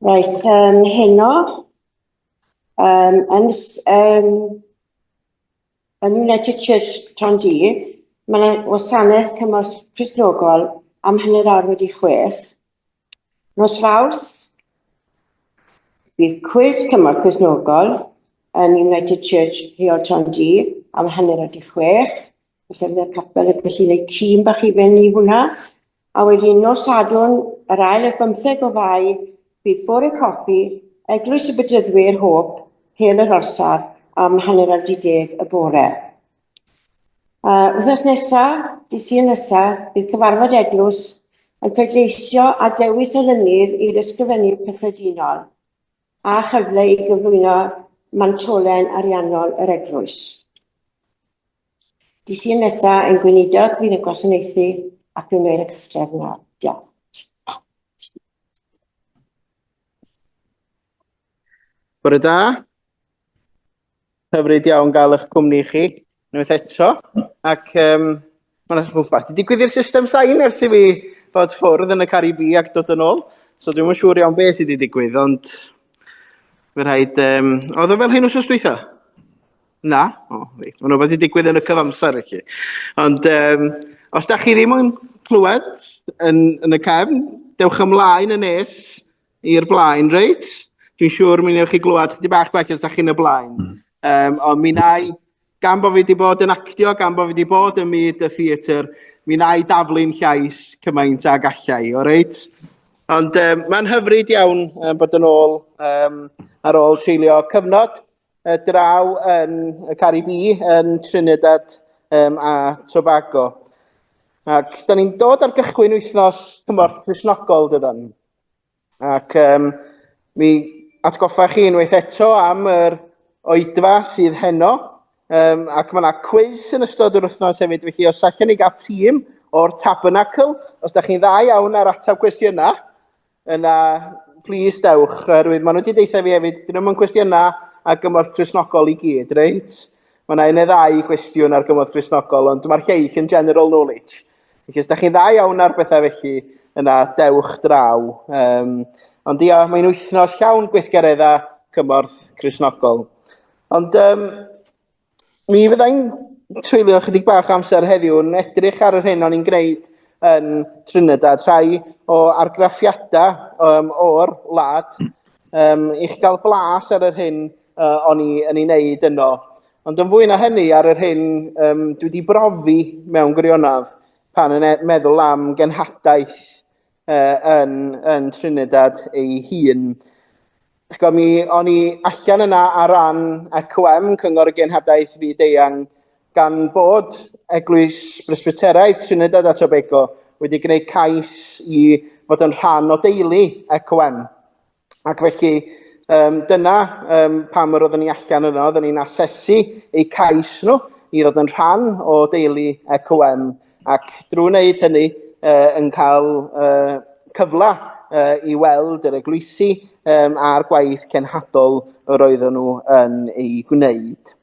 Reit, um, heno, um, yn, um, yn United Church Tran G, mae yna wasanaeth cymorth Crisnogol am hynny'r awr wedi chwech. Nos faws, bydd cwys cymorth Crisnogol yn United Church Heol Tran G am hynny'r wedi chwech. Os efe y capel y gallu neud tîm bach i ben i hwnna. A wedyn nos Sadwrn, yr ail ar bymtheg o fai, bydd bore coffi, Eglwys y Bedyddwyr Hôp, Hel yr Orsaf, am hanner ar di deg y bore. Uh, wythnos nesa, di sy'n nesa, bydd cyfarfod eglwys yn pleidleisio a dewis olynydd i'r ysgrifennydd cyffredinol a chyfle i gyflwyno mantolen ariannol yr eglwys. Dy Sul nesa ein gweinidog fydd yn gwasanaethu ac yn wneud y cystref yna. Diolch. Bore da. Hyfryd iawn gael eich cwmni chi, unwaith eto. Ac um, mae'n rhywbeth i digwydd i'r system sain ers i fi fod ffwrdd yn y Caribi ac dod yn ôl. So dwi'n yn siŵr iawn beth sydd wedi digwydd, ond fe rhaid... Um, oedd o fel hyn wrth ysdwytha? Na? O, oh, reit. Mae'n rhywbeth i digwydd yn y cyfamser i chi. Ond um, os da chi ddim yn clywed yn, yn y cefn, dewch ymlaen yn nes i'r blaen, reit? Dwi'n siŵr mi newch chi glywed chydig bach gwell os da chi'n y blaen. Mm. Um, ond mi nai, gan bod fi wedi bod yn actio, gan bod fi wedi bod yn myd y theatr, mi nai daflu'n llais cymaint ag allai, o reit? Ond um, mae'n hyfryd iawn um, bod yn ôl um, ar ôl treulio cyfnod y draw yn y Caribi, yn Trinidad um, a Tobago. Ac da ni'n dod ar gychwyn wythnos cymorth Crisnogol, dydan. Ac um, mi atgoffa chi unwaith eto am yr oedfa sydd heno, um, ac mae yna cwys yn ystod yr wythnos hefyd, felly os allwn ni gael tîm o'r Tabernacle, os da chi'n dda iawn ar ateb cwestiynau, Yna, plis dewch, oherwydd maen nhw wedi deitha fi hefyd, dyn nhw'n cwestiynau a gymorth Cresnogol i gyd, reit? Mae yna un neu ddau gwestiwn ar gymorth Cresnogol, ond mae'r lleill yn general knowledge. Felly, os da chi'n dda iawn ar bethau felly, yna dewch draw. Um, ond ia, mae'n wythnos llawn gweithgareddau cymorth Cresnogol. Ond um, Mi fyddai'n treulio ychydig bach o amser heddiw yn edrych ar yr hyn o'n i'n gwneud yn Trinidad, rhai o argraffiadau um, o'r wlad, um, i chi gael blas ar yr hyn uh, o'n i yn ei wneud yno. Ond yn fwy na hynny, ar yr hyn um, dwi wedi brofi mewn gwirionedd pan yn e- meddwl am genhadaeth uh, yn, yn Trinidad ei hun. Chgo, mi o'n i allan yna ar ran ECOM, Cyngor y Genhadaeth Fyd Eang, gan bod Eglwys Bresbyteraidd Trinidad a Tobago wedi gwneud cais i fod yn rhan o deulu ECOM. Ac felly, um, dyna um, pam yr oeddwn ni allan yno, oeddwn ni'n asesu eu cais nhw i ddod yn rhan o deulu ECOM, ac drwy wneud hynny uh, yn cael uh, cyfle uh, i weld yr eglwysi um, a'r gwaith cenhadol yr oeddwn nhw yn ei gwneud.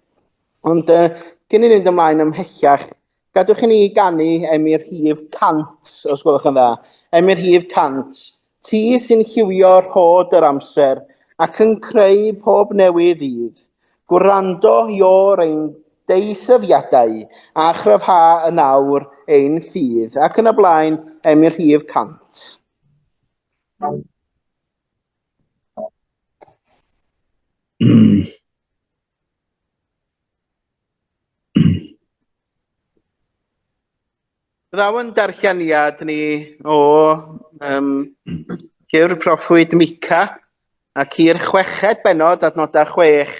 Ond uh, cyn i ni fynd ymlaen ymhellach, Gadwch i ni ganu am i'r hif cant, os gwelwch yn dda. Am i'r hif cant. Ti sy'n lliwio rhod yr amser ac yn creu pob newydd ddydd. Gwrando i o'r ein deisyfiadau a chryfha yn awr ein ffydd. Ac yn y blaen, am i'r hif cant. Ddaw yn darlleniad ni o um, gyr proffwyd Mica ac i'r chweched benod adnodau 6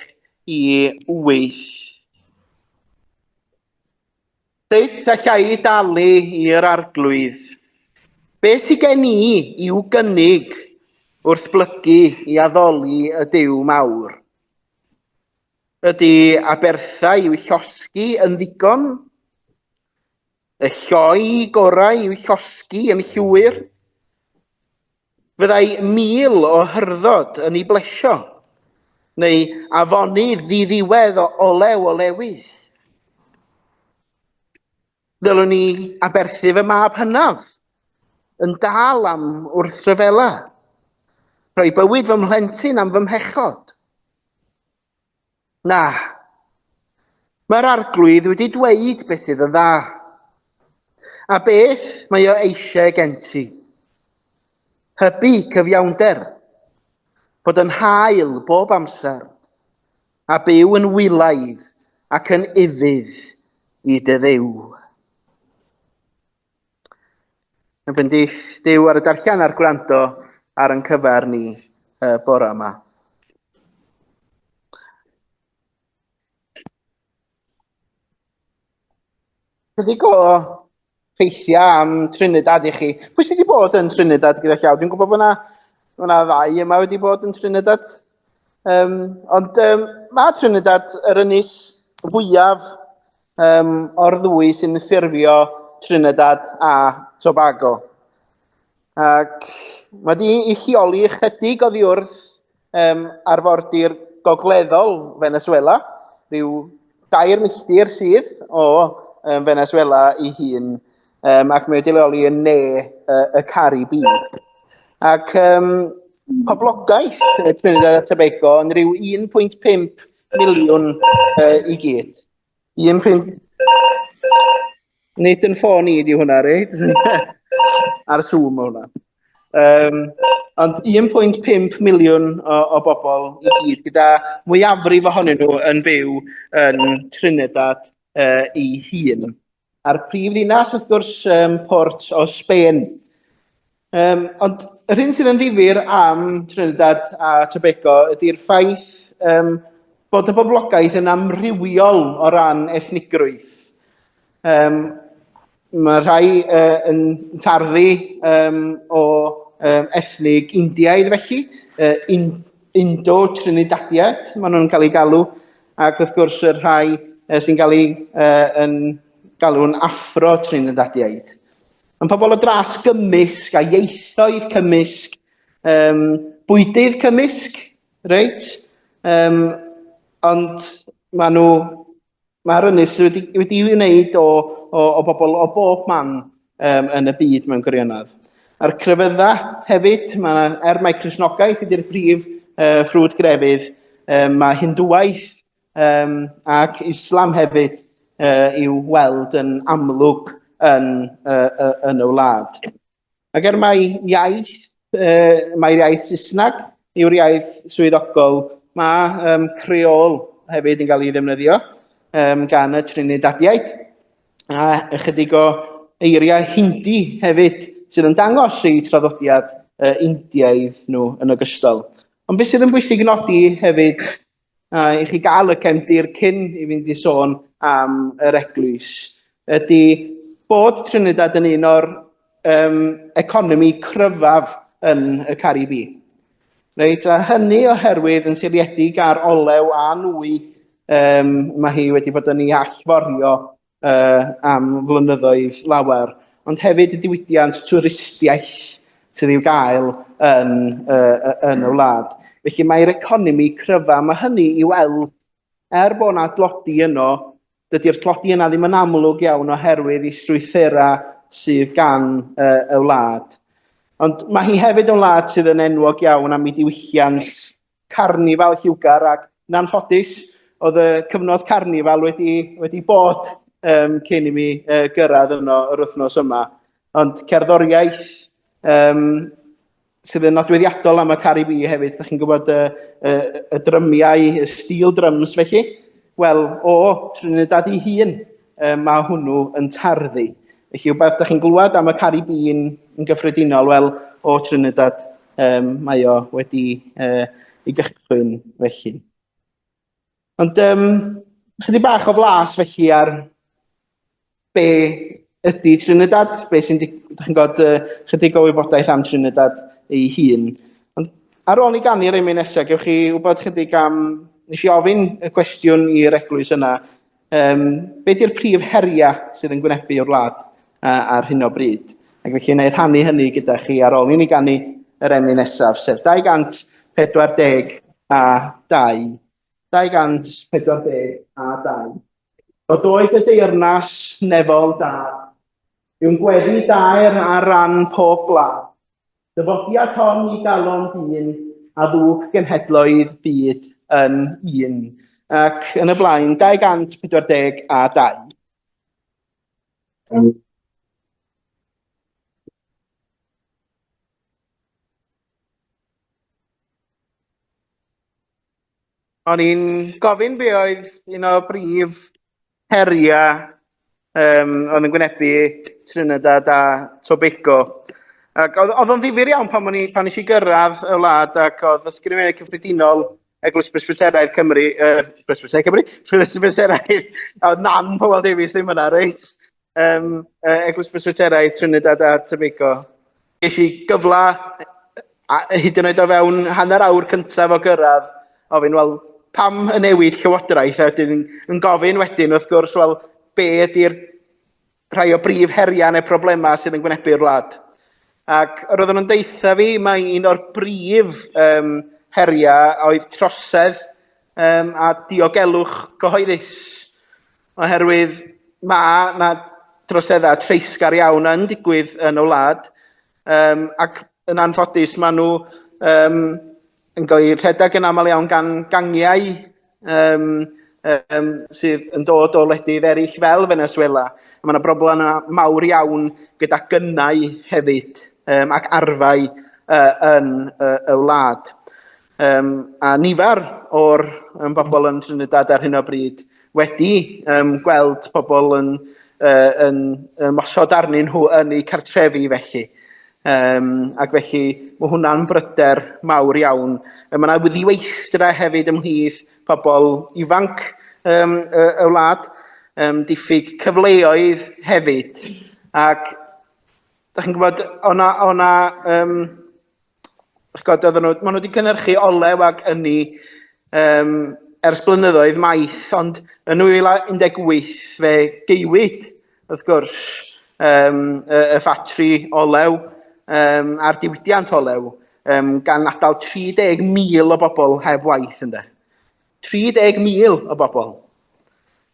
i 8. Sut allai i dalu i'r Arglwydd? Beth sydd gen i i'w gynnig wrth blygu i addoli y Duw mawr? Ydy abertha i'w llosgi yn ddigon? Y lloi gorau i'w llosgi yn llwyr? Fyddai mil o hyrddod yn ei blesio, neu afonydd ddiddiwedd o olew olewydd. Ddylwn ni aberthu fy mab hynaf, yn dal am wrth rhyfela, rhoi bywyd fy mhlentyn am fy mhechod. Na. Mae'r arglwydd wedi dweud beth sydd yn dda. A beth mae o eisiau gen ti? Hybu cyfiawnder, bod yn hael bob amser, a byw yn wylaidd ac yn ufudd i dy ddew. Yn bendith Dyw ar y darllen a'r gwrando ar yn cyfer ni y bore yma. Chydig o ffeithiau am Trinidad i chi. Pwy sydd wedi bod yn Trinidad gyda llaw? Dwi'n gwybod bod yna, bod yna ddau yma wedi bod yn Trinidad. Um, ond um, mae Trinidad yr ynys fwyaf um, o'r ddwy sy'n ffurfio Trinidad a Tobago. Ac mae wedi ei lleoli ychydig oddi wrth um, arfordir gogleddol Venezuela, rhyw dair milltir sydd o um, Venezuela i hun, um, ac mae wedi leoli yn ne uh, y Caribi. Ac um, poblogaeth Trinidad a Tobago yn rhyw 1.5 miliwn uh, i gyd. Un pwynt... Nid yn ffôn i di hwnna, reit? Ar Zoom o hwnna. Um, ond 1.5 miliwn o, o bobl i gyd, gyda mwyafrif ohonyn nhw yn byw yn Trinidad uh, i hun. a'r prif ddinas, wrth gwrs, um, port o Sbaen. Um, ond yr hyn sydd yn ddifur am Trinidad a Tobago ydy'r ffaith um, bod y boblogaeth yn amrywiol o ran ethnigrwydd. Um, mae rhai uh, yn tarddu um, o um, ethnig Indiaidd felly, uh, in, Indo-Trinidadiad, maen nhw'n cael ei galw, Ac wrth gwrs, y rhai uh, sy'n cael ei uh, yn galw'n affro Trinidadiaid. Yn pobl o dras gymysg a ieithoedd cymysg, um, bwydydd cymysg, reit? Um, ond maen nhw, mae'r ynys wedi, wedi wneud o, o, o bobl o bob man um, yn y byd mewn gwirionedd. A'r crefydda hefyd, mae, er mae Cresnogaeth ydy'r brif uh, ffrwd grefydd, um, mae Hindwwaith um, ac Islam hefyd uh, i'w weld yn amlwg yn, uh, uh, yn y wlad. Ac er mae iaith uh, mae'r iaith Saesneg yw'r iaith swyddogol. Mae um, creol hefyd yn cael ei ddefnyddio um, gan y Trinidadiaid. A ychydig o eiriau Hindi hefyd sydd yn dangos eu traddodiad uh, Indiaidd nhw yn ogystal. Ond beth sydd yn bwysig nodi hefyd A i chi gael y cefndir cyn i fynd i sôn am yr eglwys, ydy bod Trinidad yn un o'r um, economi cryfaf yn y Caribi. Reit, a hynny oherwydd yn seiliedig ar olew a nwy, um, mae hi wedi bod yn ei allforio uh, am flynyddoedd lawer, ond hefyd y diwydiant twristiaeth sydd i'w gael yn, uh, yn y wlad. Felly mae'r economi cryfa, mae hynny i weld, er bod yna dlodi yno, dydy'r tlodi yna ddim yn amlwg iawn oherwydd i strwythurau sydd gan uh, y wlad. Ond mae hi hefyd yn wlad sydd yn enwog iawn am ei diwylliant carnifal lliwgar ac yn anffodus oedd y cyfnod carnifal wedi, wedi bod um, cyn i mi uh, gyrraedd yno yr wythnos yma. Ond cerddoriaeth um, sydd yn nodweddiadol am y Caribi hefyd, ydych chi'n gwybod y, y, y drymiau, y stil drums felly. Wel, o Trinidad i hun, um, mae hwnnw yn tarddu. Felly, rhywbeth ydych chi'n glywed am y Caribi yn gyffredinol, wel, o Trinidad Um, mae o wedi uh, ei gychwyn felly. Ond um, chydig bach o flas felly ar be ydy Trinidad, be sy'n, ydych chi'n gwybod, uh, chydig o wybodaeth am Trinidad ei hun. Ond ar ôl i ganu yr emyn nesaf, gewch chi wybod chydig am, nes i ofyn y cwestiwn i'r eglwys yna, Um, be di'r prif heriau sydd yn gwynebu o'r wlad uh, ar hyn o bryd? Ac felly yna i rhannu hynny gyda chi ar ôl i ni gannu yr emyn nesaf, sef 240 a 2. 240 a 2. O doed y deyrnas nefol da, yw'n gweddi daer ar ran pob gwlad, Dyfodiad hon i galon dyn a ddug genhedloedd byd yn un ac yn y blaen 240 a 2. O'n i'n gofyn be oedd un o brif heriau um, oedd yn gwynebu Trinidad a Tobago. Ac oedd, oedd o'n ddifur iawn pan, ni, pan eisiau gyrraedd y wlad ac oedd ysgrifennu cyffredinol Eglwys Presbyteraidd Cymru, uh, Presbyteraidd Cymru, Presbyteraidd, a oedd nan Powell Davies ddim yna, reit? Um, uh, Eglwys Presbyteraidd Trinidad a Tobago. Ges i gyfle, a hyd yn oed o fewn hanner awr cyntaf o gyrraedd, ofyn, wel, pam y newid llywodraeth? A wedyn yn gofyn wedyn, wrth gwrs, wel, be ydy'r rhai o brif heriau neu problemau sydd yn gwynebu'r wlad? Ac yr oedden nhw'n deitha fi, mae un o'r brif um, heriau oedd trosedd um, a diogelwch gyhoeddus. Oherwydd mae 'na droseddau treisgar iawn yn digwydd yn y wlad, um, ac yn anffodus maen nhw um, yn cael eu rhedeg yn aml iawn gan gangiau um, um, sydd yn dod o ledydd eraill fel Venezuela. Mae yna broblem mawr iawn gyda gynnau hefyd um, ac arfau uh, yn uh, y wlad. Um, a nifer o'r um, bobl yn Trinidad ar hyn o bryd wedi um, gweld pobl yn, uh, yn, yn mosod arnyn nhw yn eu cartrefi felly. Um, ac felly mae hwnna'n bryder mawr iawn. Um, mae yna wyddiweithdra hefyd ymhlith pobl ifanc um, y, y wlad, um, diffyg cyfleoedd hefyd. Ac da chi'n gwybod, o'na, o'na um, Chi'n gwybod, oedden nhw, maen nhw wedi cynhyrchu olew ac ynni um, ers blynyddoedd maith, ond yn 2018 fe geiwyd, wrth gwrs, um, y, y ffatri olew um, a'r diwydiant olew, um, gan adael 30,000 o bobl heb waith ynddo. 30,000 o bobl,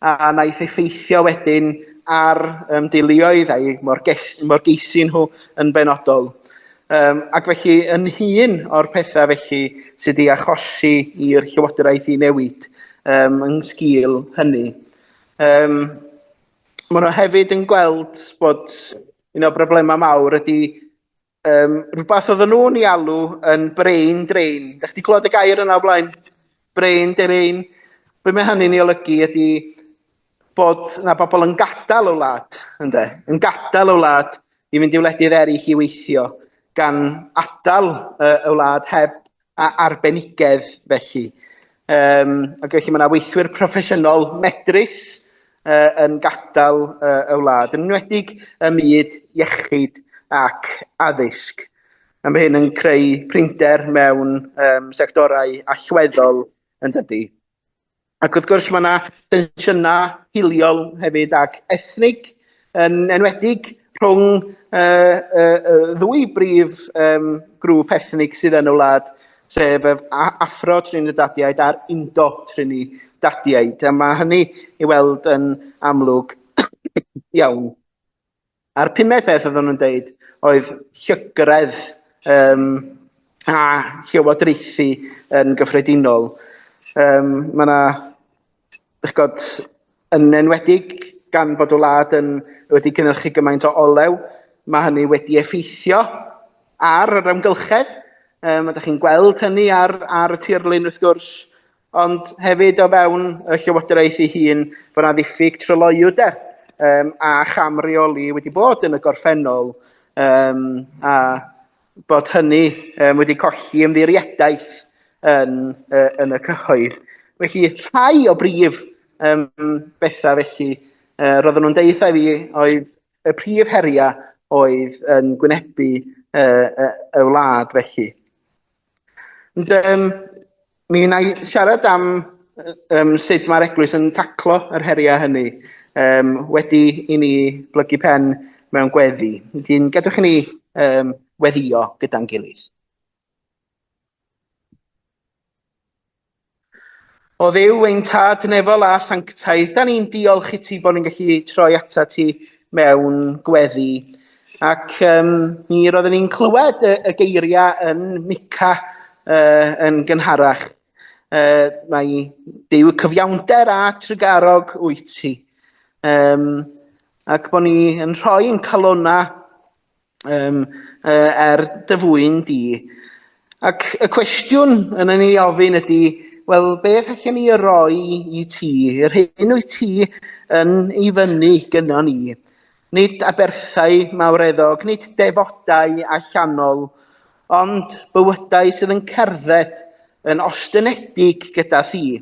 a wnaeth effeithio wedyn ar um, deuluoedd a'i morgeisi nhw yn benodol. Um, ac felly, yn hun o'r pethau felly sydd wedi achosi i'r llywodraeth i newid um, yn sgil hynny. Um, Mae nhw hefyd yn gweld bod un o'r broblemau mawr ydy Um, rhywbeth oedden nhw'n ei alw yn brain drain. Da chdi clywed y gair yna o blaen? Brain drain. Be mae hynny'n ei olygu ydy bod na bobl yn gadael y wlad, ynddo, yn gadael y wlad i fynd i wledydd eraill i weithio, gan adael y, y wlad heb a arbenigedd felly. Um, ac felly mae yna weithwyr proffesiynol medrus uh, yn gadael uh, y wlad, yn enwedig y myd iechyd ac addysg. A mae hyn yn creu prinder mewn um, sectorau allweddol yn dydy. Ac wrth gwrs mae yna tensiynau hiliol hefyd ac ethnig yn enwedig rhwng y, y, y ddwy brif um, grŵp ethnig sydd yn y wlad, sef y Afro-Trinidadiaid a'r Indo-Trinidadiaid. A mae hynny i weld yn amlwg iawn. A'r pumed peth oeddwn nhw'n deud oedd llygredd um, a llywodraethu yn gyffredinol. Um, mae yna, ych god, yn enwedig gan bod y wlad yn, wedi cynnyrchu gymaint o olew, mae hynny wedi effeithio ar yr amgylchedd. Um, ydych chi'n gweld hynny ar, ar y tirlun wrth gwrs, Ond hefyd o fewn y Llywodraeth ei hun bod yna ddiffyg tryloywder um, a chamreoli wedi bod yn y gorffennol um, a bod hynny um, wedi colli ymddiriedaeth yn, uh, yn y cyhoedd. Felly rhai o brif um, bethau felly uh, roedden nhw'n deitha fi oedd y prif heriau oedd yn gwynebu uh, uh, y wlad felly. Ond um, mi wna i siarad am um, sut mae'r eglwys yn taclo yr heriau hynny um, wedi i ni blygu pen mewn gweddi. Wedyn, gadwch i ni um, weddio gyda'n gilydd. O Dduw, ein Tad nefol a sanctaidd, da ni'n diolch i ti bod ni'n gallu troi ata ti mewn gweddi. Ac um, mi roeddwn ni'n clywed y, y geiriau yn Mica uh, yn gynharach. Uh, mae Dyw cyfiawnder a trygarog wyt ti. Um, ac bod ni yn rhoi yn calona um, uh, er dy fwyn di. Ac y cwestiwn yn ei ofyn ydy, wel, beth allan ni roi i ti, yr hyn wyt ti yn ei fyny gyda ni? Nid aberthau mawreddog, nid defodau allanol, ond bywydau sydd yn cerdded yn ostynedig gyda thi.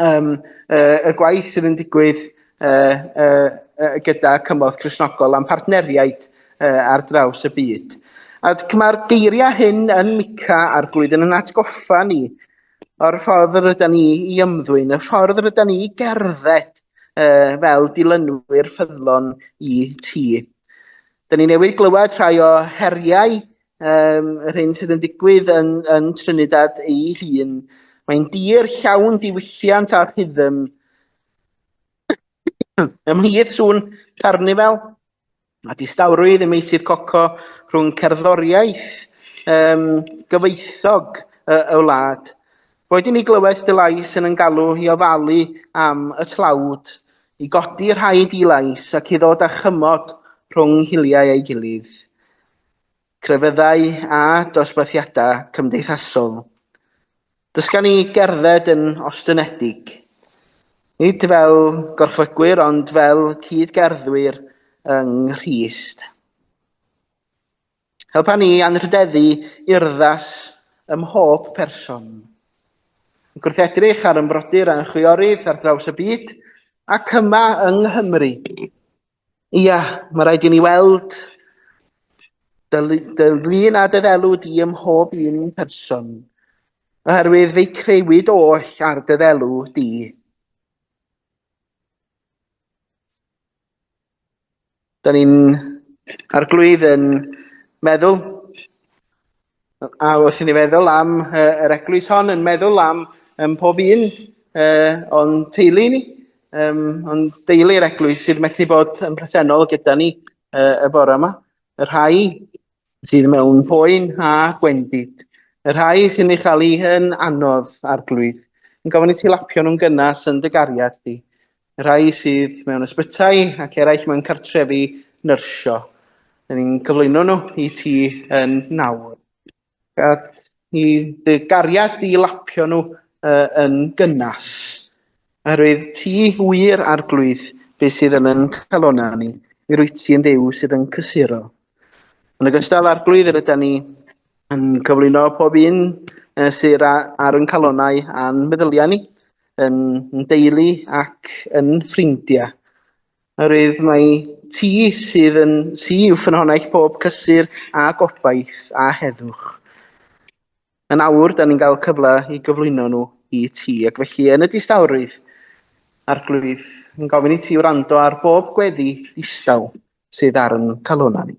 um, uh, y gwaith sydd yn digwydd uh, uh, uh, gyda cymorth Cresnogol a'n partneriaid uh, ar draws y byd. A mae'r geiriau hyn yn mica a'r blwyddyn yn atgoffa ni o'r ffordd yr ydyn ni i ymddwyn, y ffordd yr ydyn ni i gerdded uh, fel dilynwyr ffyddlon i ti. Dyna ni newydd glywed rhai o heriau um, yr hyn sydd yn digwydd yn, yn Trinidad ei hun. Mae'n dir llawn diwylliant a rhythm. Ymhlith sŵn carnifel a distawrwydd y meisydd coco rhwng cerddoriaeth um, gyfoethog y, y wlad. Roedd i ni glywed dy lais yn yn galw i ofalu am y tlawd, i godi rhaid i lais ac i ddod â chymod rhwng hiliau ei gilydd. crefyddau a dosbarthiadau cymdeithasol. Dysgan ni gerdded yn ostynedig, nid fel gorchfygwyr ond fel cyd-gerddwyr yng Nghrist. Helpa ni anrhydeddu urddas ym mhob person. Yn gwrthedrych ar ymbrodyr a chwiorydd ar draws y byd ac yma yng Nghymru. Ia, mae rhaid i ni weld dy, dy lun a dy ddelw di ym mhob un person, oherwydd fe'i crewyd oll ar dy ddelw di. Da ni'n arglwydd yn meddwl A wrth i ni feddwl am uh, yr eglwys hon, yn meddwl am um, pob un uh, o'n teulu ni, um, o'n deulu'r eglwys sydd methu bod yn presennol gyda ni uh, y bore yma. Y rhai sydd mewn poen a gwendid. Y rhai sy'n ei chael ei hyn anodd arglwydd. Yn gofyn i ti lapio nhw'n gynnas yn dy gariad di. Y rhai sydd mewn ysbytai ac eraill mewn cartrefi nyrsio. Dyn ni'n cyflwyno nhw i ti yn nawr. Gad i dy gariad di lapio nhw uh, yn gynnas. Oherwydd ti wir arglwydd beth sydd yn yn calona ni. Mi rwyt ti yn ddew sydd yn cysuro. Yn ogystal â'r glwydd rydyn ni yn cyflwyno pob un uh, sydd ar yn calonau a'n meddyliau ni, yn, yn deulu ac yn ffrindiau. Oherwydd mae ti sydd yn ti yw ffynhonell pob cysur a gobaith a heddwch. Yn awr, da ni'n cael cyfle i gyflwyno nhw i ti, ac felly yn y distawrwydd, Arglwydd, yn gofyn i ti wrando ar bob gweddi distaw sydd ar yn calonau ni.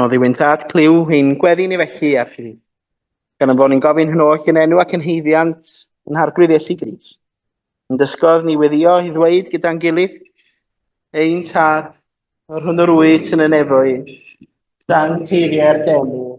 Oddiwyn tad clyw ein gweddi ni felly ar chi. Gan ymfod ni'n gofyn hyn oll yn enw ac yn heiddiant yn harglwydd Iesu Grist. Yn dysgodd ni weddio i ddweud gyda'n gilydd, ein tad, yr hwn yr wyt yn y nefoedd, dan teiriau'r deml,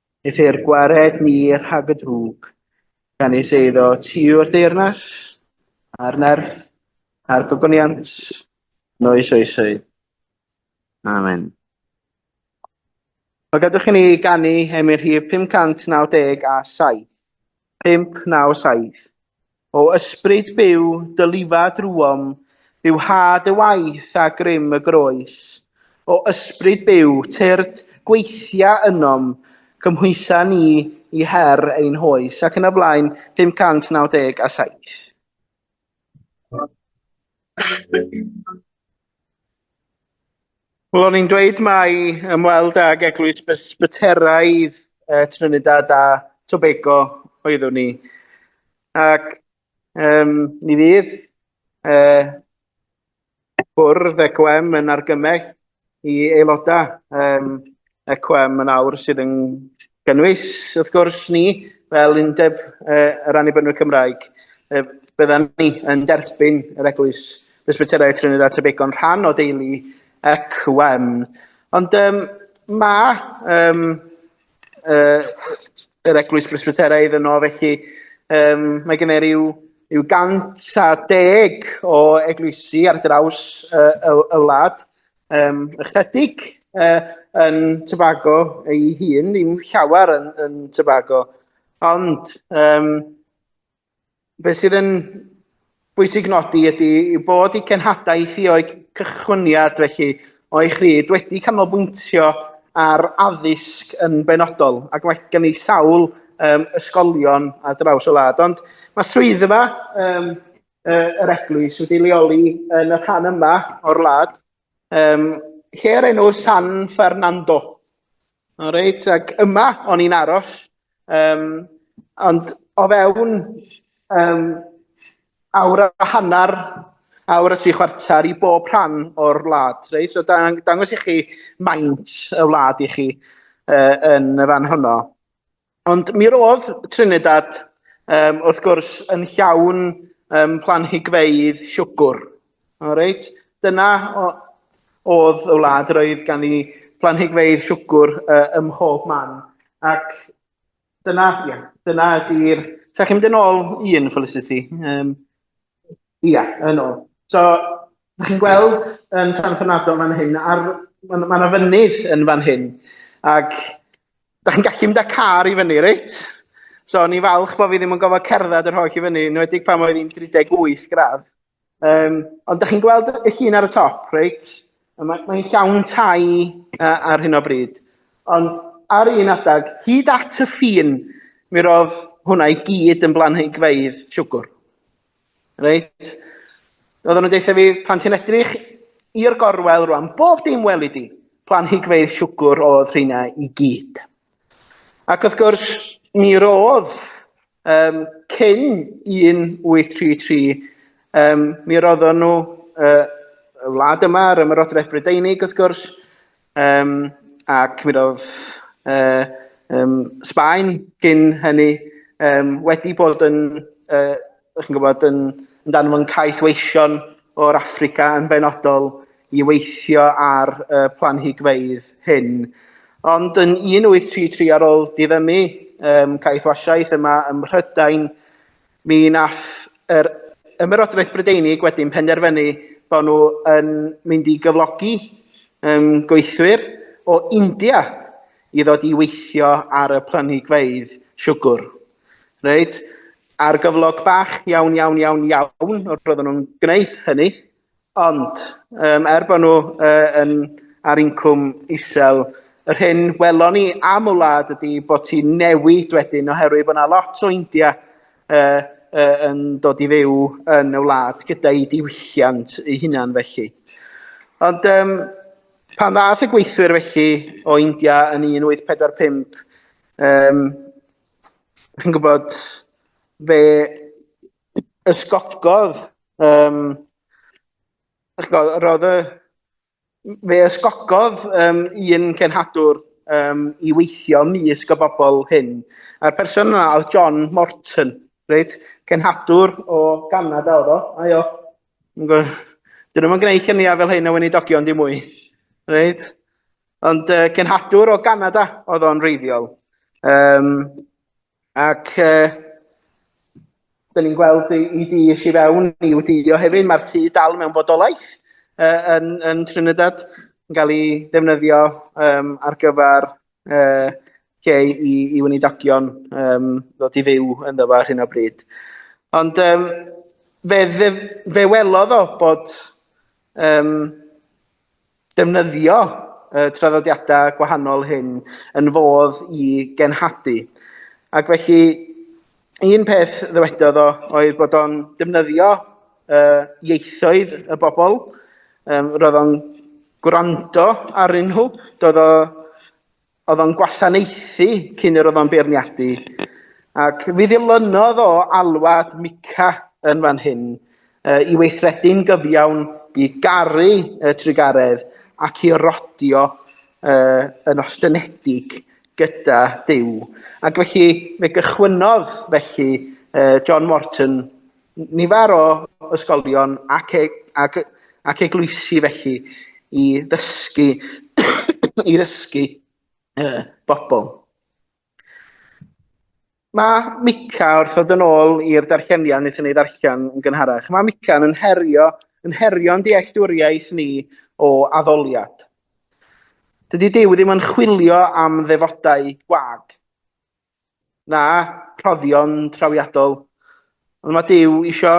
Aeth i'r gwared ni rhag y drwg, gan ei seiddo tiw'r deyrnas, a'r nerth, a'r gogoniant, noes oesau. Amen. Wel, gadwch i ni ganu emyn rhif 597 a 7. 597. O ysbryd byw, dy lifa drwom, byw ha dy waith a grym y groes. O ysbryd byw, tyrd, gweithia ynom, cymhwysa ni i her ein hoes, ac yn y blaen, 597. Wel, o'n i'n dweud mai ymweld ag eglwys Bysbyteraidd uh, Trinidad a Tobago oeddwn ni. Ac um, ni fydd uh, bwrdd ECOM yn argymell i aelodau um, ECOM yn awr sydd yn gynnwys, wrth gwrs, ni, fel Undeb uh, yr Annibynwyr Cymraeg, uh, byddan ni yn derbyn yr eglwys Presbyterau Trinidad Tebegon rhan o deulu ac wem. Ond um, mae um, uh, yr eglwys Presbyteraidd yno, felly um, mae gennyf rhyw, rhyw gant a deg o eglwysi ar draws uh, y, y wlad, um, ychydig uh, yn Tobago ei hun, ddim llawer yn, yn Tobago. Ond um, beth sydd yn bwysig nodi ydy yw bod i cenhadaeth i o'i cychwyniad felly o'i chryd wedi canolbwyntio ar addysg yn benodol ac mae gen i sawl um, ysgolion a draws y wlad. Ond mae swyddfa um, uh, yr eglwys wedi leoli yn y rhan yma o'r lad, um, lle ar enw San Fernando. O reit, ac yma o'n i'n aros, um, ond o fewn um, awr a hanner, awr a tri chwarter i bob rhan o'r wlad. Reit? So dang, dangos i chi maint y wlad i chi uh, yn y fan honno. Ond mi roedd Trinidad, um, wrth gwrs, yn llawn um, planhigfeydd siwgr. O, reit? Dyna oedd y wlad, roedd gan i planhigfeydd siwgr uh, ym mhob man. Ac dyna, ia, dyna ydy'r... Sa chi'n mynd yn ôl un, Felicity? Um, Ia, yn ôl. So, ydych chi'n gweld yn San Fernando fan hyn, ar, mae yna ma fynydd yn fan hyn, ac ydych chi'n gallu mynd â car i fyny, reit? So, ni'n falch bod fi ddim yn gofod cerdded yr holl i fyny, yn wedi pan oedd hi'n 38 gradd. Um, ond ydych chi'n gweld y llun ar y top, reit? Mae'n mae llawn tai uh, ar hyn o bryd. Ond ar un adeg, hyd at y ffin, mi roedd hwnna i gyd yn blanhigfeidd siwgwr. Reit? Oedden nhw'n deitha fi, pan ti'n edrych i'r gorwel rwan, bob dim weli di, planhigfeidd siwgwr oedd rheina i gyd. Ac wrth gwrs, mi roedd Um, cyn 1833, um, mi roeddon nhw uh, y wlad yma ar ymarodraeth Brydeinig, wrth gwrs, um, ac mi roedd uh, um, Sbaen cyn hynny um, wedi bod yn, uh, chi'n gwybod, yn, yn dan fo'n caeth weision o'r Africa yn benodol i weithio ar y planhigfeydd hyn. Ond yn 1833 ar ôl diddymu um, caethwasiaeth yma ym Mhrydain, mi nath yr Ymerodraeth Brydeinig wedyn penderfynu bod nhw yn mynd i gyflogi um, gweithwyr o India i ddod i weithio ar y planhigfeydd siwgr. Reit? Ar gyflog bach iawn, iawn, iawn, iawn, o'r roedden nhw'n gwneud hynny, Ond, um, er bod nhw uh, yn, ar incwm isel, yr hyn welon ni am y wlad ydy bod ti newid wedyn oherwydd bod yna lot o India uh, uh, yn dod i fyw yn y wlad gyda'i diwylliant ei hunan felly. Ond um, pan ddath y gweithwyr felly o India yn 1845, um, chi'n gwybod, fe ysgogodd, um, roedd y, fe ysgogodd um, un cenhadwr um, i weithio mis y bobl hyn. A'r person yna oedd John Morton, reit? Cenhadwr o Ganada oedd o, a jo. Dyn nhw'n gwneud cynniau fel hyn o weinidogion di mwy. Reit? Ond uh, cenhadwr o Ganada oedd o'n reiddiol. Um, Ac e, dyn ni'n gweld i, i di eisiau fewn i wdio hefyd, mae'r tu dal mewn bodolaeth e, yn, yn Trinidad yn cael ei defnyddio um, ar gyfer e, lle i, i wnidogion um, ddod i fyw yn ddo ar hyn o bryd. Ond um, fe, fe, fe welodd o bod um, Defnyddio y traddodiadau gwahanol hyn yn fodd i genhadu. Ac felly, un peth ddywedodd o oedd bod o'n defnyddio uh, ieithoedd y bobl, um, roedd o'n gwrando arnyn nhw, doedd o Oedd o'n gwasanaethu cyn yr oedd o'n beirniadu, ac fi ddilynodd o alwad Mica yn fan hyn uh, i weithredu'n gyfiawn i garu y trugaredd ac i rodio uh, yn ostynedig gyda Dyw. Ac felly, fe gychwynnodd felly uh, John Morton Nifer o ysgolion ac, e, ac, ac eglwysi felly i ddysgu, i ddysgu uh, bobl. Mae Mica, wrth ddod yn ôl i'r darlleniad wnaethon ni ddarllen yn gynharach, mae Mica yn herio, yn herio'n dealltwriaeth ni o addoliad. Dydy Dyw ddim yn chwilio am ddefodau gwag. Na, rhoddion trawiadol. Ond mae Duw isio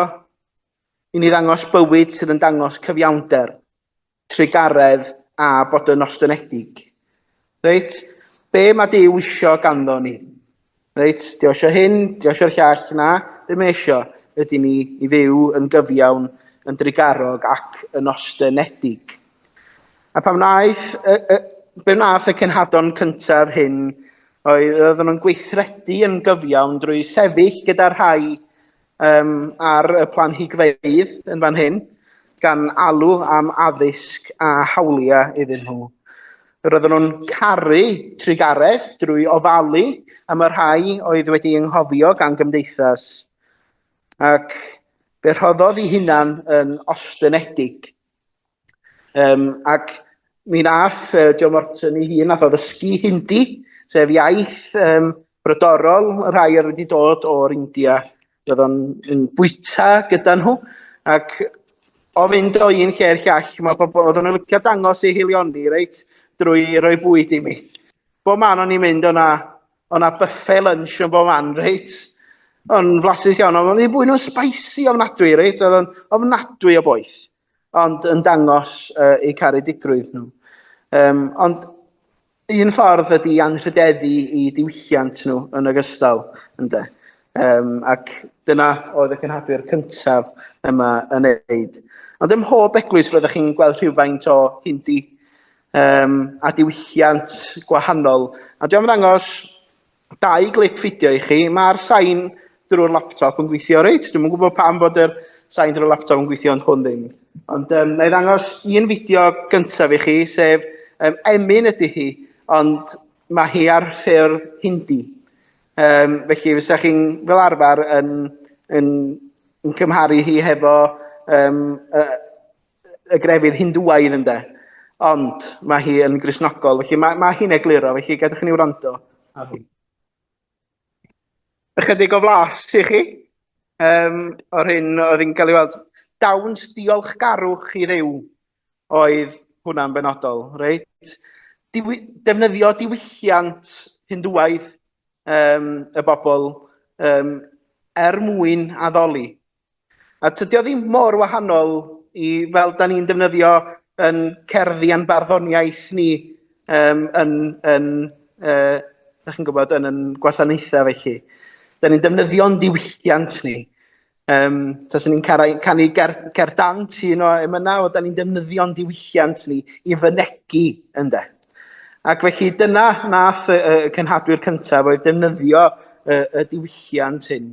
i ni ddangos bywyd sydd yn dangos cyfiawnder, trugaredd a bod yn ostynedig. Reit? Be mae Duw isio ganddo ni? Reit? Dio eisiau hyn, dio eisiau'r llall, na? Be mae eisiau? Ydy ni i fyw yn gyfiawn, yn drugarog ac yn ostynedig. A pam wnaeth, y, y, be wnaeth y cenhadon cyntaf hyn Oedd oedden nhw'n gweithredu yn gyfiawn drwy sefyll gyda rhai um, ar y planhigfeydd yn fan hyn, gan alw am addysg a hawliau iddyn nhw. Roedden nhw'n caru trugaredd drwy ofalu am y rhai oedd wedi ynghofio gan gymdeithas. Ac fe rhoddodd i hunan yn ostynedig Um, ac mi nath uh, Joe Morton ei hun nath o ddysgu Hindi, sef iaith um, brodorol y rhai oedd wedi dod o'r India. Roedd o'n yn bwyta gyda nhw ac o fynd o un lle i'r llall, mae pobl oedd yn licio dangos ei hilioni, reit, drwy roi bwyd i mi. Bo man o'n i'n mynd o'na O' 'na buffet lunch yn bob man, reit? O'n flasus iawn, ond o'n i'n bwyd nhw'n spicy ofnadwy, reit? Oedd o'n ofnadwy o boeth, ond yn dangos uh, eu caredigrwydd nhw. Um, ond un ffordd ydy anrhydeddu i diwylliant nhw yn ogystal, ynddo. Um, ac dyna oedd y cynhadwyr cyntaf yma yn neud. Ond ym mhob eglwys fyddwch chi'n gweld rhywfaint o hindi um, a diwylliant gwahanol. A dwi'n ddangos dau glip fideo i chi. Mae'r sain drwy'r laptop yn gweithio reit. Dwi'n gwybod pam bod yr sain drwy'r laptop yn gweithio ond hwn ddim. Ond um, na i ddangos un fideo gyntaf i chi, sef um, Emin ydy hi, ond mae hi ar ffurf hindi. Um, felly, fysa chi'n fel arfer yn, yn, yn cymharu hi hefo um, y, y grefydd Hindŵaidd ynde, ond mae hi yn grisnogol, felly mae, mae hi'n egluro, felly gadwch i ni wrando. Ychydig o flas i chi, um, o'r hyn oedd yn cael ei weld. Dawns diolchgarwch i ddew oedd hwnna'n benodol, reit? Diwy defnyddio diwylliant Hindŵaidd um, y bobl um, er mwyn addoli A tydio ddim mor wahanol i fel da ni'n defnyddio yn cerddi a'n barddoniaeth ni um, yn, yn uh, da chi'n gwybod, yn yn gwasanaethau felly. Da ni'n defnyddio'n diwylliant ni. Um, Tasa ni'n canu ger, ger dant un o emynau, o da ni'n defnyddio'n diwylliant ni i fynegu yn de. Ac felly dyna nath y, y cenhadwyr cyntaf oedd defnyddio y, y diwylliant hyn.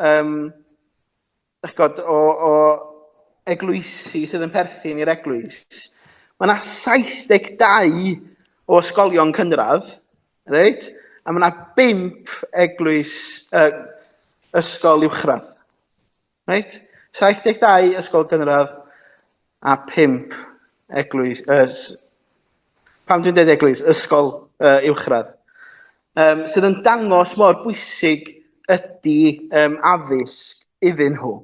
um, god, o, o eglwysi sydd yn perthyn i'r eglwys, mae yna 72 o ysgolion cynradd, reit? a mae yna 5 eglwys, uh, ysgol uwchradd. Reit? 72 ysgol gynradd, a phump eglwys, uh, pam dwi'n dweud eglwys, ysgol uh, uwchradd, um, sydd yn dangos mor bwysig ydy um, addysg iddyn nhw.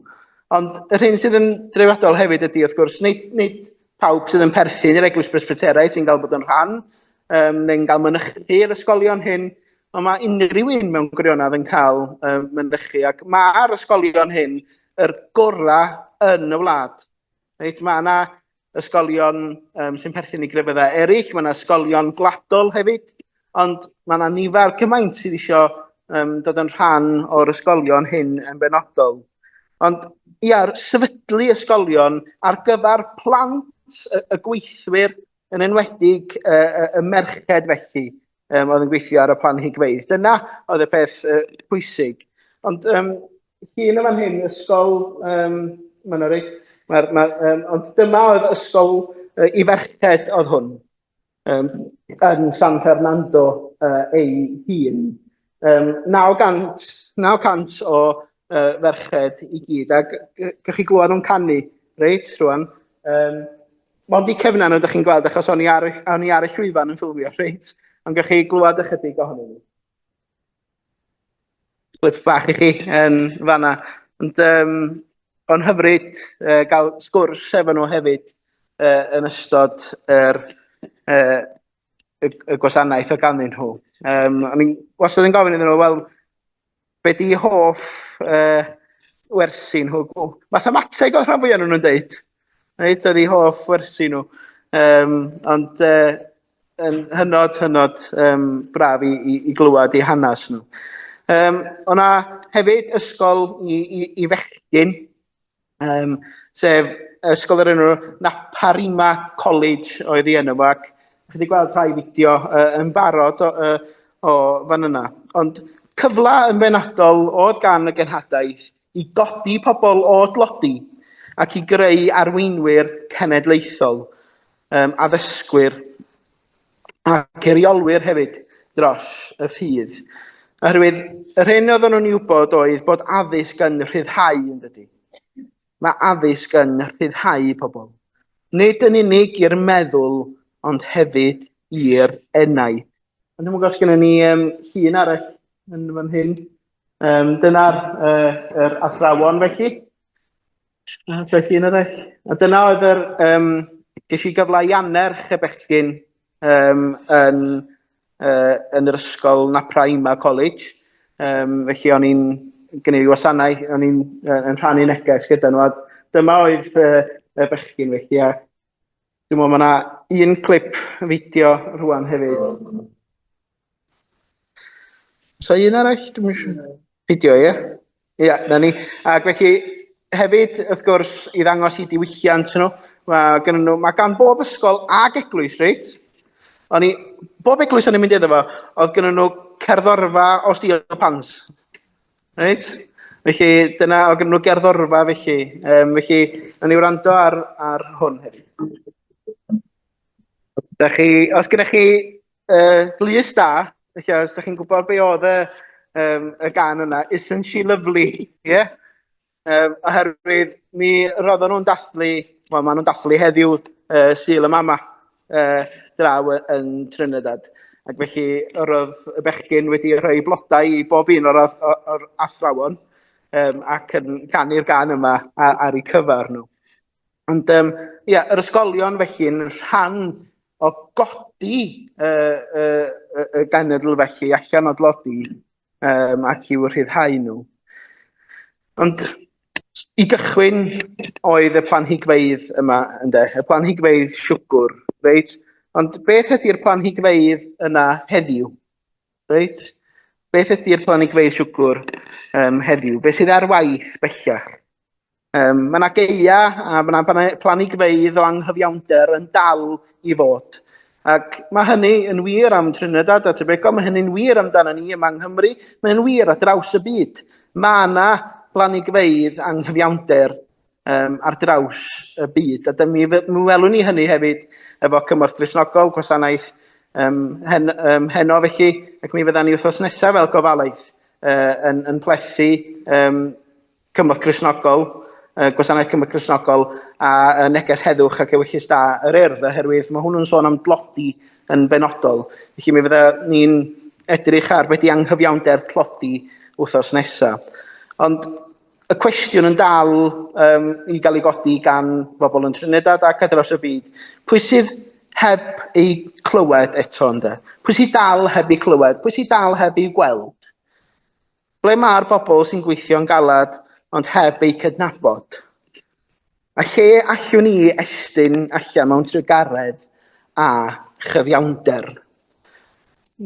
Ond yr hyn sydd yn dreifadol hefyd ydy, wrth gwrs, nid, nid pawb sydd yn perthyn i'r eglwys presbyterau sy'n cael bod yn rhan um, neu'n cael mynychu'r ysgolion hyn, ond mae unrhyw un mewn gwirionedd yn cael um, mynychu. Ac mae'r ysgolion hyn yr gorau yn y wlad. Reit, mae yna ysgolion um, sy'n perthyn i grefyddau eraill, mae yna ysgolion gwladol hefyd, ond mae yna nifer cymaint sydd eisiau um, dod yn rhan o'r ysgolion hyn yn benodol. Ond ia, sefydlu ysgolion ar gyfer plant y, y gweithwyr yn enwedig y, y, y merched felly, um, oedd yn gweithio ar y plan higfeidd. Dyna oedd y peth uh, pwysig. Ond um, hun yma'n hyn, ysgol, um, mae'n orig, ma, ma, um, ond dyma oedd ysgol uh, i ferched oedd hwn, um, yn San Fernando uh, ei hun. Um, 900, 900 o uh, ferched i gyd, a gych chi glwad nhw'n canu, reit, rwan. Um, Mond i cefna nhw, ydych chi'n gweld, achos o'n i ar, on i ar y llwyfan yn ffilmio, reit? Ond gych chi glwad ychydig ohonyn nhw. Clip bach i chi yn fanna. Ond um, o'n hyfryd uh, gael sgwrs efo nhw hefyd uh, yn ystod yr, uh, y, y gwasanaeth o ganddyn nhw. Um, o'n i'n wastad yn gofyn iddyn nhw, wel, be di hoff uh, wersi nhw? Mathemateg oedd rhan fwyaf nhw'n dweud. Reit, oedd hi hoff wersi nhw. Um, ond uh, yn hynod, hynod um, braf i, i, i glywed i hanes nhw. Um, o'na hefyd ysgol i, i, i fechgyn Um, sef ysgol yr enw Naparima College oedd i enw fo, ac chi wedi gweld rhai fideo uh, yn barod o, uh, o fan yna. Ond cyfle yn benodol oedd gan y genhadaeth i godi pobl o dlodi ac i greu arweinwyr cenedlaethol, um, addysgwyr ac eiriolwyr hefyd dros y ffydd. Oherwydd yr hyn oeddwn nhw'n ei wybod oedd bod addysg yn rhyddhau yn dydy. Mae addysg yn rhyddhau pobl. Nid yn unig i'r meddwl, ond hefyd i'r enaid. Ond dwi'n gwybod gen ni um, llun arall yn fan hyn. Um, Dyna'r uh, er athrawon felly. A beth un arall? A dyna oedd yr... Um, ges i gyfle i annerch y bechgyn um, yn, uh, yn yr ysgol Napraima College. Um, felly o'n i'n gwneud wasanau, o'n i'n uh, yn rhannu neges gyda nhw. A dyma oedd uh, y bechgyn felly. A dwi'n meddwl mae yna un clip fideo rwan hefyd. So un arall, dwi'n eisiau fideo, ie? Ie, na ni. Ac felly, hefyd, wrth gwrs, i ddangos i diwylliant nhw, mae gen nhw, mae gan bob ysgol ag eglwys, reit? O'n i, bob eglwys o'n i'n mynd iddo fo, oedd gen nhw cerddorfa o stil pans. Reit? Felly, dyna, oedd gen nhw gerddorfa, felly. Um, felly, na ni wrando ar, ar hwn hefyd. Da chi, os gennych chi uh, glys da, felly os ydych chi'n gwybod be oedd y, um, y gan yna, Isn't She Lovely, ie? Yeah? Um, oherwydd mi roeddwn nhw'n dathlu, wel maen nhw'n dathlu heddiw uh, Sul y Mama uh, draw yn Trinidad. Ac felly roedd y bechgyn wedi rhoi blodau i bob un o'r, o'r, o'r athrawon um, ac yn canu'r gan yma ar, ar eu cyfer nhw. Ond um, ia, yr ysgolion felly'n rhan o godi y, y, y, y genedl felly allan o dlodi um, ac i'w rhyddhau nhw. Ond i gychwyn oedd y planhigfeidd yma, ynddo, y planhigfeidd siwgwr, reit? Ond beth ydy'r planhigfeidd yna heddiw? Reit? Beth ydy'r planhigfeidd siwgwr um, heddiw? Beth sydd ar waith bellach? Um, mae yna geia a mae yna planigfeidd o anghyfiawnder yn dal i fod. Ac mae hynny yn wir am Trinidad a Tobago, mae hynny'n wir amdano ni yma yng Nghymru, mae hynny'n wir ar draws y byd. Mae yna blanigfeidd anghyfiawnder um, ar draws y byd. A mi, mi welwn ni hynny hefyd efo cymorth grisnogol, gwasanaeth um, hen, um, heno felly, ac mi fydda ni wrthos nesaf fel gofalaeth uh, yn, yn plethu um, Cymorth Gristnogol, y Gwasanaeth Cymorth Gristnogol a y Neges Heddwch ac Ewyllys Da yr Urdd, oherwydd mae hwnnw'n sôn am dlodi yn benodol. Felly mi fydda ni'n edrych ar beth di anghyfiawnder tlodi wrthos nesa. Ond y cwestiwn yn dal um, i gael ei godi gan bobl yn Trinidad ac ar draws y byd, pwy sydd heb ei clywed eto ynde? Pwy sydd dal heb ei clywed? Pwy sydd dal heb ei gweld? Ble mae'r bobl sy'n gweithio'n galed ond heb eu cydnabod? A lle allwn ni estyn allan mewn trugaredd a chyfiawnder?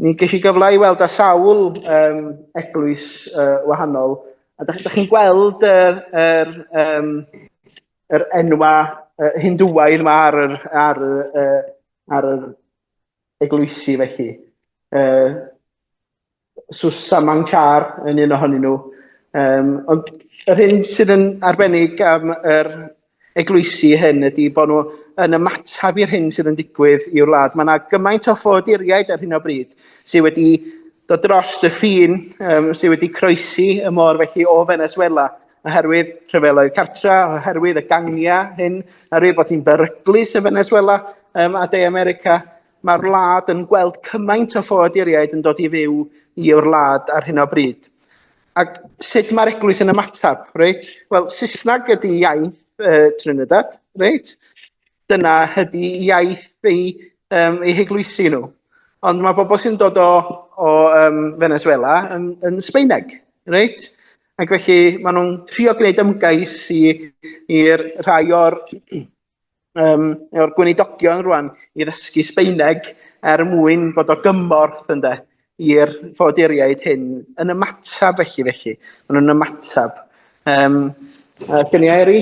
Ni ges i gyfle i weld â sawl um, eglwys uh, wahanol, a da, da chi'n gweld yr, yr, um, yr enwa uh, hindwaidd yma ar yr, ar, uh, ar yr eglwysi felly. Uh, Susaman Carr yn un ohonyn nhw. Um, ond yr hyn sydd yn arbennig am yr eglwysi hyn ydy bod nhw yn ymateb i'r hyn sydd yn digwydd i'w wlad. Mae yna gymaint o ffoduriaid ar hyn o bryd sydd wedi dod dros y ffin, um, sydd wedi croesi y môr felly o Venezuela oherwydd rhyfeloedd cartra, oherwydd y gangiau hyn, oherwydd bod hi'n beryglus yn Venezuela um, a De America, Mae'r wlad yn gweld cymaint o ffoaduriaid yn dod i fyw i o'r wlad ar hyn o bryd. Ac sut mae'r eglwys yn ymateb, reit? Wel, Saesneg ydy iaith uh, Trinidad, reit? Dyna ydy iaith ei, um, ei heglwysi nhw. Ond mae bobl sy'n dod o, o um, Venezuela yn, yn Sbeineg, reit? Ac felly maen nhw'n trio gwneud ymgais i'r rhai o'r um, o'r gweinidogion rwan i ddysgu Sbeineg er mwyn bod o gymorth ynde i'r ffoduriaid hyn yn ymateb felly felly. Maen nhw'n ymateb. Um, uh, Gen i Eri?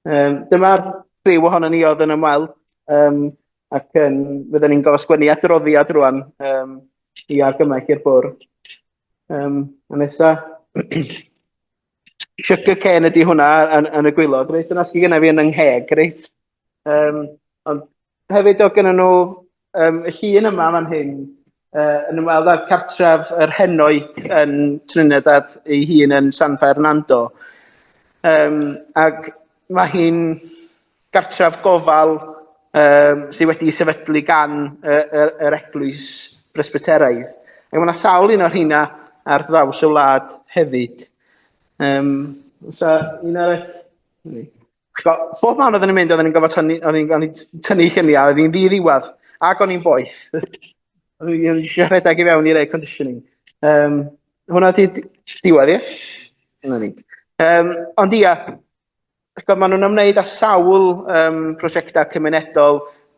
Um, Dyma'r rhyw ohono ni oedd yn ymweld um, ac um, fydden ni'n gofio sgwennu adroddiad rwan um, i argymell i'r bwrdd. Um, a nesa, Sugar cane ydy hwnna yn, yn y gwylod, reit? Dyna sydd genna fi yn yng ngheg, reit? Um, ond hefyd o gyda nhw um, y llun yma fan hyn, uh, yn ymweld â'r cartref yr henoed yn Trinidad ei hun yn San Fernando. Um, ac mae hi'n gartref gofal um, sydd wedi sefydlu gan uh, yr, yr eglwys bresbyteraidd. Ac mae yna sawl un o'r hynna ar draws y wlad hefyd. Um, so, un arall... Bob man oedden ni'n mynd, oedden ni'n gofod tynnu, o'n i'n tynnu lluniau, oedd hi'n ddi-ddiwedd, ac o'n i'n boeth. o'n i'n eisiau rhedeg i fewn i'r air conditioning. Um, hwna ti diwedd, ie? Hwna ni. Um, ond ia, Chibod, maen nhw'n ymwneud â sawl um, prosiectau cymunedol,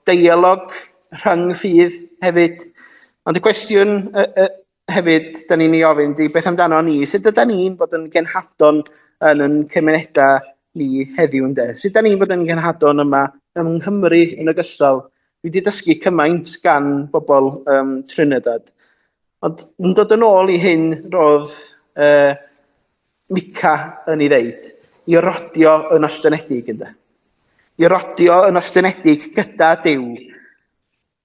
deialog rhyng ffydd hefyd. Ond y cwestiwn uh, uh, hefyd, da ni'n ei ofyn, di beth amdano ni? Sut ydyn ni'n bod yn genhadon yn yn cymunedau ni heddiw yn de? Sut ydyn ni'n bod yn genhadon yma yng Nghymru yn ogystal? Dwi wedi dysgu cymaint gan bobl um, Trinidad. Ond yn dod yn ôl i hyn roedd uh, Mica yn ei ddeud, i rodio yn ostyngedig ynde. I rodio yn ostyngedig gyda Duw.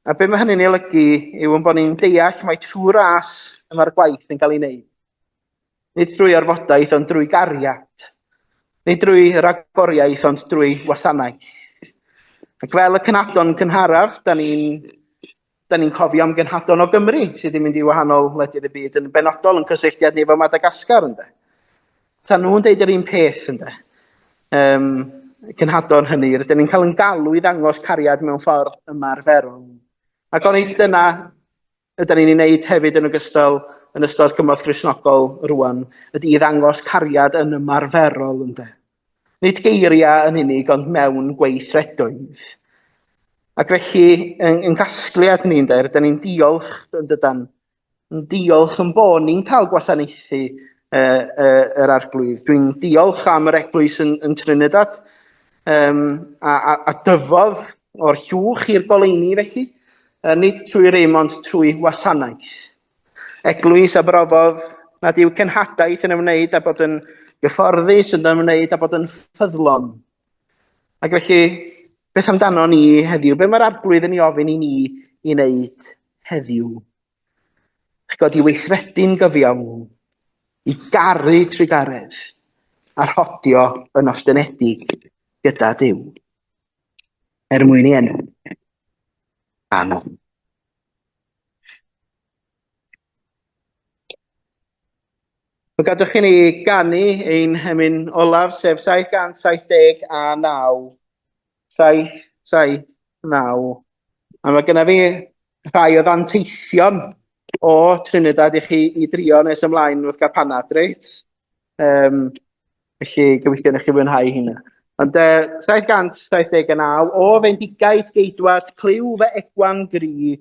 A be mae hynny'n ei olygu yw yn bod ni'n deall mae trwy ras y mae'r gwaith yn cael ei wneud. Nid drwy orfodaeth ond drwy gariad. Nid drwy ragoriaeth ond drwy wasanaeth. Ac fel y cynadon cynharaf, da ni'n Da ni'n cofio am genhadon o Gymru sydd wedi mynd i wahanol wledydd y byd yn benodol yn cysylltiad ni efo Madagascar ynde. Ta nhw'n deud yr un peth ynde. Um, cynhadon hynny, rydyn ni'n cael yn galw i ddangos cariad mewn ffordd ymarferol. Ac o'n eich dyna ydyn ni'n ei wneud hefyd yn ogystal yn ystod cymorth grisnogol rwan, ydy i ddangos cariad yn ymarferol ynde. Nid geiriau yn unig, ond mewn gweithredoedd. Ac felly, yn, yn gasgliad ni'n dweud, da ni'n diolch, yn dydan, yn diolch yn bod ni'n cael gwasanaethu uh, uh, yr arglwydd. Dwi'n diolch am yr eglwys yn, yn Trinidad um, a, a, a dyfodd o'r llwch i'r goleini felly, uh, nid trwy rym ond trwy wasanaeth. Eglwys a brofodd nad yw cenhadaeth yn ymwneud â bod yn gyfforddus yn ymwneud â bod yn ffyddlon. Ac felly, beth amdano ni heddiw? Be mae'r arglwydd yn ei ofyn i ni i wneud heddiw? Eich god i weithredu'n gyfiawn, i garu trugaredd, a rhodio yn ostynedig gyda Dyw. Er mwyn i enw. Amen. Fe gadwch i ni ganu ein hymyn olaf, sef 779. 7, 7, 9. A mae gennym fi rhai o ddanteithion o Trinidad i chi i drio nes ymlaen wrth gael panad, reit? Um, felly, gobeithio na chi fwynhau hynna. Ond uh, 779, o fendigaid geidwad, clyw fe egwan gri,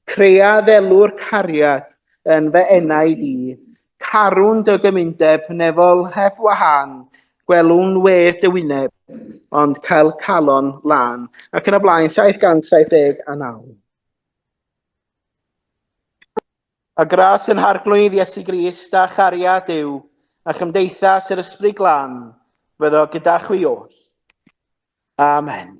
crea ddelwr cariad yn fe enau di, carwn dy gymundeb nefol heb wahan, gwelwn we dy wyneb, ond cael calon lan. Ac yn y blaen, 779. A gras yn harglwydd Iesu Grist a chariad yw, a chymdeithas yr Ysbryd Glân, fyddo gyda chwi oll. Amen.